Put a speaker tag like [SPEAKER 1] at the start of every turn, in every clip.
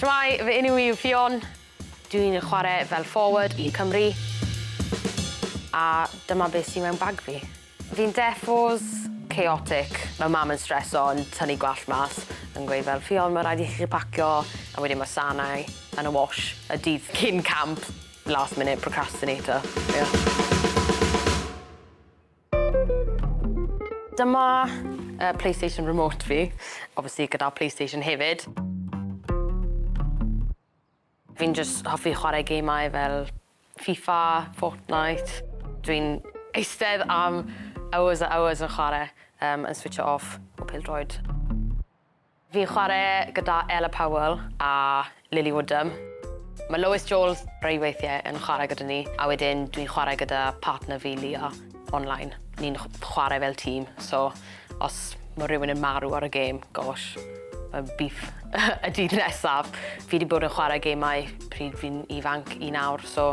[SPEAKER 1] Shwmae, fy enw i yw Ffion, dw i'n chwarae fel forward i Cymru a dyma beth sydd mewn bag fi. Fi'n deffos, chaotic, mae mam yn streso yn tynnu gwallt mas yn gweud fel Ffion mae rhaid i chi pacio a wedyn mae sanau yn y wash y dydd cyn camp, last minute procrastinator, ie. Dyma uh, PlayStation Remote fi, obviously gyda PlayStation hefyd. Fi'n just hoffi chwarae geimau fel FIFA, Fortnite. Dwi'n eistedd am hours a hours yn chwarae, um, yn switcho off o pildroed. Fi'n chware gyda Ella Powell a Lily Woodham. Mae Lois Jones rei weithiau yn chwarae gyda ni, a wedyn dwi'n chwarae gyda partner fi, Leah, online. Ni'n chwarae fel tîm, so os mae rhywun yn marw ar y gêm, gosh, mae'n beef y dydd nesaf. Fi 'di bod yn chwarae gemau pryd fi'n ifanc i nawr, so...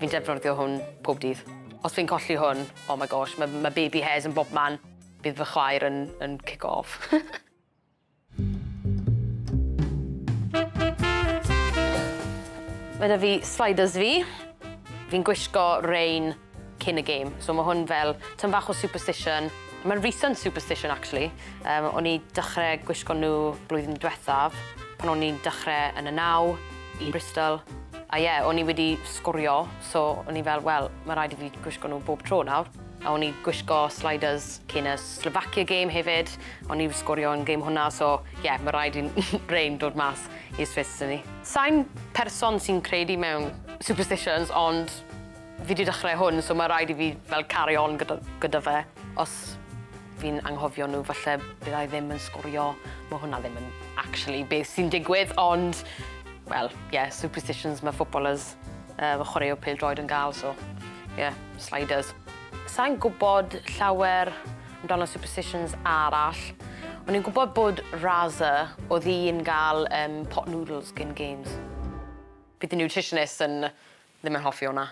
[SPEAKER 1] Fi'n defnyddio hwn pob dydd. Os fi'n colli hwn, oh my gosh, ma' ma' baby hairs yn bobman. Bydd fy chwaer yn yn cico off. Ma' 'da fi sliders fi. Fi'n gwisgo rein cyn y gêm, so ma' hwn fel tym fach o superstition. Ma'n recent superstition actually. Yym o'n i dechre gwisgo nw blwyddyn dwethaf pan o'n i'n dechre yn y naw. i Bristol a ie o'n i wedi sgorio so o'n i fel wel ma' raid i fi gwisgo nhw bob tro nawr a o'n i gwisgo sliders cyn y Slovakia game hefyd o'n i wedi sgorio yn game hwnna so ie ma' raid i rain dod mas i'r Swiss i ni. Sai'n person sy'n credu mewn superstitions ond fi 'di dechrau hwn so ma' raid i fi fel carry on gyda gyda fe os Fi'n anghofio nhw, falle byddai ddim yn sgorio. Mae hwnna ddim yn actually beth sy'n digwydd, ond, wel, ie, yeah, superstitions mae footballers, uh, mae chwaraewr pêl droed yn gael, so, ie, yeah, sliders. Sa'n gwybod llawer amdano superstitions arall. O'n i'n gwybod bod Raza oedd hi'n gael um, pot noodles gyn games. Bydd y nutritionist yn Ddim yn hoffi hwnna.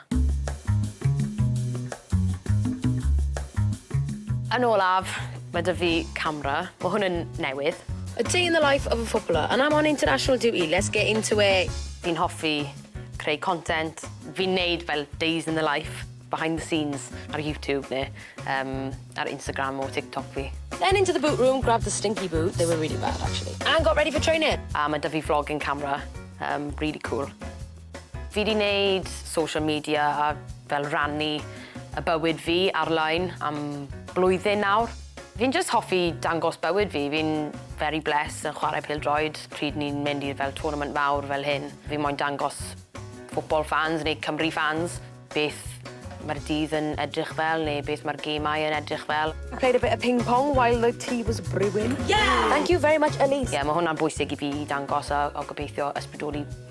[SPEAKER 1] Yn olaf, mae 'da fi camera. Mae hwn yn newydd. A day in the life of a footballer and I'm on international duty, let's get into it! Fi'n hoffi creu content. Fi'n neud fel days in the life, behind the scenes, ar YouTube ne' yym ar Instagram or TikTok fi. Then into the boot room, grabbed the stinky boots, they were really bad actually, and got ready for training! A mae 'da fi vlogging camera, yym rili cŵl. Fi 'di neud social media a fel rannu y bywyd fi ar-line am blwyddyn nawr. Fi'n jyst hoffi dangos bywyd fi, fi'n very blessed yn chwarae pêl-droed, pryd ni'n mynd i'r fel tournament fawr fel hyn, fi moyn dangos football fans neu Cymru fans beth ma'r dydd yn edrych fel neu beth ma'r gêmau yn edrych fel. I played a bit of ping pong while the tea was brewing. Yeah! Thank you very much Elise. Ie, ma' hwnna'n bwysig i fi i dangos a a gobeithio ysbrydoli